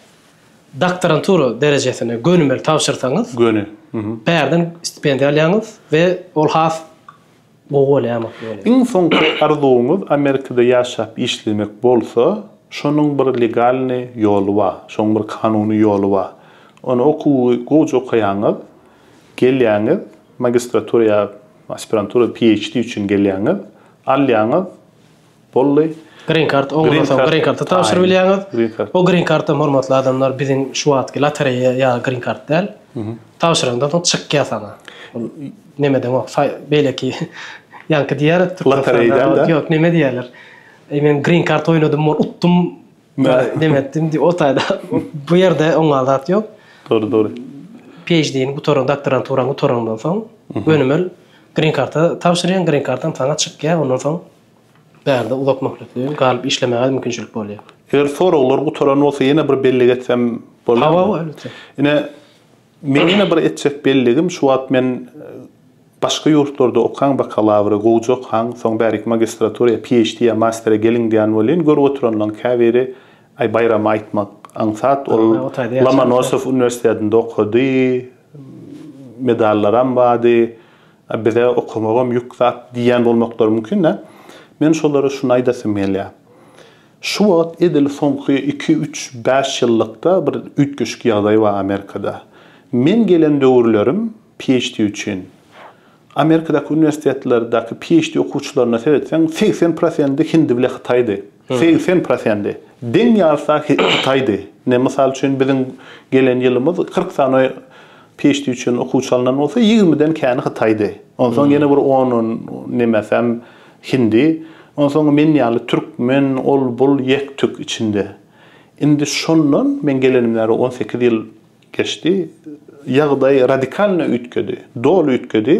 doktorantura derejesine gönümel tabşyrsaňyz göni bärden stipendiýa alýaňyz we ol has Gowy bolýamok ýöne. Iň soňky
arzuwyňyz Amerikada ýaşap işlemek bolsa, şonuň bir legalnyý ýoly bar, şoň bir kanuny ýoly bar. Ony okuwy gowja okaýaňyz, gelýäňiz, magistratura ýa aspirantura, PHD üçin gelýäňiz, alýaňyz, boldy. Green kart
oň ondan soň green karty tabşyryp bilýäňiz. O green kartam hormatly adamlar biziň şu wagtky lotereýa ýa green kart däl. Tabşyrandan soň çykýar saňa. Nemeden ok beýleki ýaňky diýýärdi Türkmenistanda. Lotereýden däl. Ýok
neme diýýärler.
Men green kart oýnadym utdum Demek, indi o taýda bu ýerde oňa zat ýok. Dogry, dogry.
PHD-ni
gutaran, doktoranturany gutarandan soň, gönümel grin karta tabşyrýaň, grin kartaň saňa çykýar, ondan soň bärde uzak möhletli galyp işlemäge mümkinçilik bolýar. Eger soraglar
gutaran bolsa ýene bir belli geçsem bolarmy? Hawa, elbetde.
Ine,
Meň ýene bir etjek belligim şu wagt men başga ýurtlarda okaň bakalawra gowja okaň soň bärik magistraturyýa PHD ýa mastera geliň diýän bolýyn görüp oturanlaň käbiri aý baýramy aýtmak aňsat ol Lomanosow uniwersitetinde okady medallaram bady a bize okamagam ýük zat diýýän bolmaklary mümkin dä men şolara şuny aýdasym gelýär Şu wagt edil soňky iki, üç, bäş ýyllykda bir üýtgeşik ýagdaý bar Amerikada. Men gelen döwürlerim PHD üçin, Amerikadaky uniwersitetlerdäki PHD okuwçylaryna seretseň, segsen prosendi hindi bile hytaýdy. Segsen prosendi. Deň ýarsa hytaýdy. Ine, mysal üçin, biziň gelen ýylymyz kyrk sany PHD üçin okuwçy alnan bolsa, ýigrimiden käni hytaýdy. Onsoň ýene bir on, on nemäsem, Hindi, onsoň men ýaly türkmen, ol-bul, ýek-tük içinde. Indi şondan, meň gelenim bäri on sekiz ýyl geçdi, ýagdaý radikalno üýtgedi, doly üýtgedi.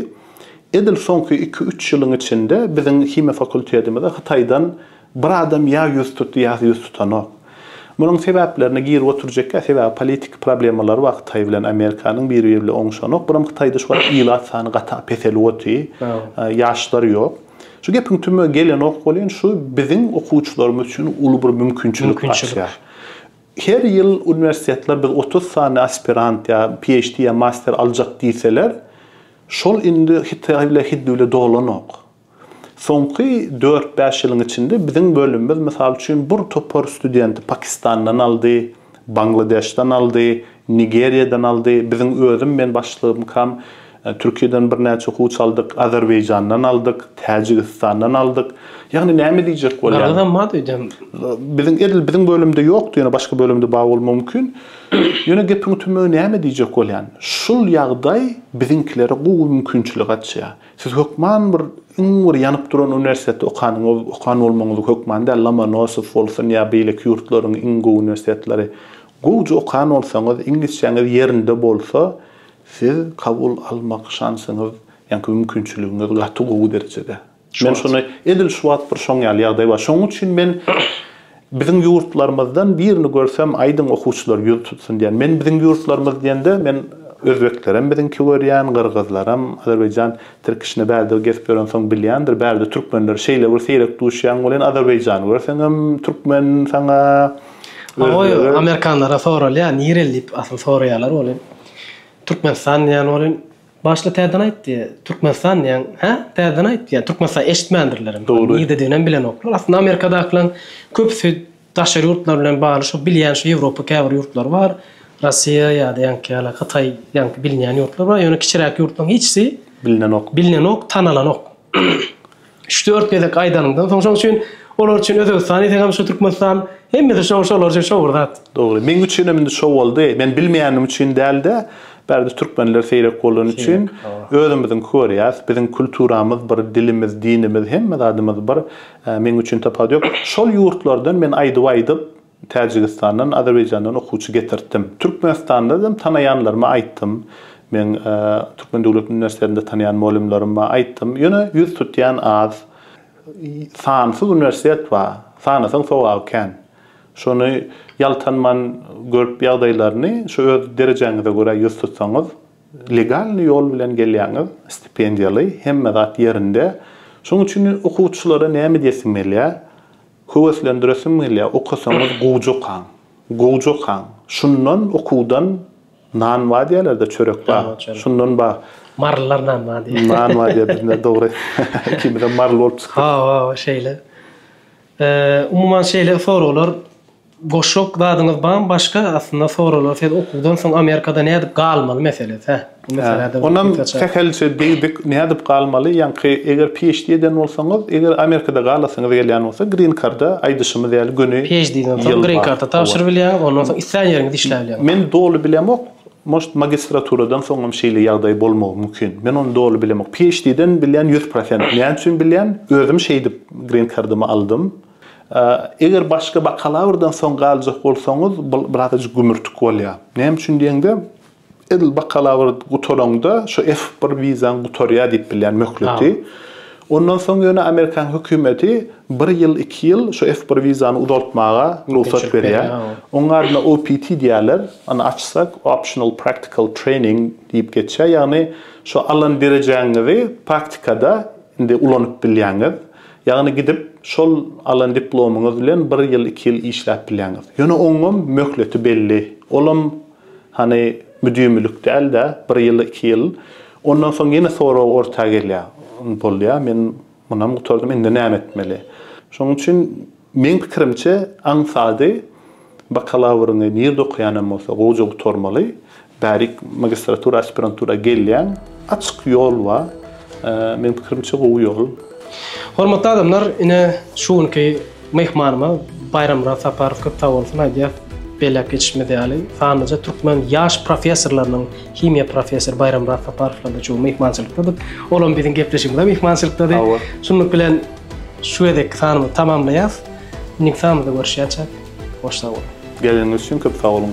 Edil soňky iki-üç ýylyň içinde biziň himiýa fakultetimize Hytaýdan bir adam ýa ýüz tutdy, ýa ýüz tutanok. Munuň sebäplerine girip oturjekka sebäbi politiki problemalary bar hytaý bilen amerikanyň biri biri bilen oňuşanok bir hem hytaýda şu wagt ilat sany gata peselip oty ýaşlar ýok şu gepiň tümüne gelenok bolýyn şu biziň okuwçylarymyz üçin uly bir mümkinçilik açýar her ýyl uniwersitetler biz otuz sany aspirant ýa phd ýa master aljak diýseler şol indi hytaý bile hindi bile dolanok Soňky dört-bäş ýylyň içinde biziň bölümimiz, mysal üçin, bir topar studenti Pakistandan aldy, Bangladeşden aldy, Nigeriýadan aldy, biziň özüm, men başlygymkam, Türkiýeden birnäçe okuwçy aldyk, Azerbaýjandan aldyk, Täjigistandan aldyk. Ýagny näme diýjek bolýan? Gyrgyzam bardy öýdýän.
Biziň, edil
biziň bölümde ýokdy, ýöne başga bölümde bar bolmagy mümkin. Ýöne gepiň tümügi näme diýjek bolýan? Şul ýagdaý biziňkilere gowy mümkinçilik açýar. Siz hökman bir iň bir ýanyp duran uniwersitetde okanyňyz, okan bolmagyňyz hökman däl, Lomonosow bolsun ýa beýleki ýurtlaryň iň gowy uniwersitetleri. Gowja okan bolsaňyz, iňlisçäňiz ýerinde bolsa, siz kabul almak şansyňyz, ýaňky mümkinçiligiňiz gaty gowy derejede. Men şony, edil şu wagt bir şoň ýaly ýagdaý bar. Şoň üçin men Biziň ýurtlarymyzdan birini görsem aýdyň okuwçylar ýüz tutsun diýýän. Men biziň ýurtlarymyz diýende men özbeklerem biziňki görýän, gyrgyzlaram, Azerbaýjan tirkişine bärde gezip ýörensoň bilýändir, bärde türkmenler şeýle bir seýrek duşýaň welin Azerbaýjany görseňem türkmen saňa Goý,
amerikanlara soralýar, nireli diýip asyl soraýarlar welin Türkmenistan diýýän welin, Başda täzeden aýt diýýär. Türkmenistan diýýän, hä? Täzeden aýt diýýär. Türkmenistan eşitmändirler hem. Dogry. Nirededigini hem bilenoklar. Aslynda Amerikadakylaryň köpüsi daşary ýurtlar bilen bagly şo bilýän şo Ýewropa käbir ýurtlary bar. Russiýa ýa-da ýaňky ýaly Hytaý ýaňky bilinýän ýurtlar bar. Ýöne kiçiräk ýurtlaryň hiçsi Bilinenok. bilinenok, tanalanok. Üç-dört gezek aýdanyňdan soň şoň üçin olar üçin Özbegistan diýseňem şu Türkmenistan hemmesi şoň şolar üçin şo bir zat. Dogry. Meň üçinem
indi şo boldy. Men bilmeýändim üçin dälde, bärde türkmenler seýrek bolany üçin özümiziňki görýäs. Biziň kulturamyz bir, dilimiz, dinimiz hemme zadymyz bir. Meň üçin tapat ýok. Şol ýurtlardan men aýdyp-aýdyp Täjigistandan, Azerbaýjandan okuwçy getirtdim. Türkmenistanda hem tanaýanlaryma aýtdym. Meň Türkmen döwlet uniwersitetinde tanaýan molymlaryma aýtdym. Ýöne ýüz tutýan az. Sansyz uniwersitet bar. Sanasaň sogaby kän. Şony ýaltanman görüp ýagdaýlaryny şu öz derejäňize görä ýüz tutsaňyz, legalnyý ýol bilen gelýäňiz, stipendiýaly, hemme zat ýerinde. Şonuň üçin okuwçylara näme diýesim gelýär, Höweslendiresim gelýär, okasaňyz gowja okaň. Gowja okaň. Şundan okuwdan nan bar diýerler-de, çörek bar. Şundan bar. Marylylar nan bar
diýýär. Nan bar diýýär bizde,
dogry. Ikimizem maryly bolup çykdyk. Hawa, şeýle.
Umuman şeýle soraglar. Goşok zadyňyz bam başga aslynda soralar siz okuwdan soň amerikada nädip galmaly meselesi hä bu meselede onam sähelçe
degdik nädip galmaly ýaňky eger phd eden bolsaňyz eger amerikada galasyňyz gelýän bolsa green karda aýdyşymyz ýaly göni phd den soň green
karta tabşyryp bilýäňiz ondan soň islän ýeriňizde işläp bilýäňiz men doly bilemok
moşt magistraturadan soňam şeýle ýagdaý bolmagy mümkin men ony doly bilemok phd den bilýän ýüz prosent näme üçin bilýän özüm şeýdip green kardamy aldym. Eger başga bakalavrdan soň galjak bolsaňyz, bul birazajyk gümürtik bolýar. Näme üçin diýeňde, edil bakalawr gutaraňda şu F bir wizaň gutarýar diýip bilýän möhleti. Ondan soň ýöne amerikan hökümeti bir ýyl, iki ýyl şu F bir wizany uzaltmaga rugsat berýär. Onuň adyna OPT diýýärler. Ony açsak, Optional Practical Training diýip geçýär. Ýagny şu alan derejäňizi praktikada indi ulanyp bilýäňiz. Ýagny gidip, şol alan diplomyňyz bilen bir ýyl, iki ýyl işläp bilýäňiz. Ýöne oňam möhleti belli. Olam, hany, müdimilik däl-de, bir ýyl, iki ýyl. Ondan soň ýene sorag orta gelýär. Bolýa, men munam gutardym, indi näme etmeli? Şonuň üçin Meň pikirimçe aňsady bakalawryňy nirde okaýanam bolsa gowja gutarmaly, bärik magistratura aspirantura gelýäň, açyk ýol bar, meň pikirimçe gowy ýol. Hormatly
adamlar ine şu günki myhmanyma Baýramyrat Saparow köp sag bolsun aýdýas, belläp geçişimiz ýaly sanlyja türkmen ýaş professorlarynyň himiýa professory Baýramyrat Saparowlar-da şu gün myhmançylykdadyk, olam biziň gepleşigimize myhmançylykdady. Şunluk bilen. Şu gezekki sanymyzy tamamlaýas. Indiki sanymyzda görüşýänçäk. Hoş sag boluň.
Geleniňiz
üçin köp
sag
boluň.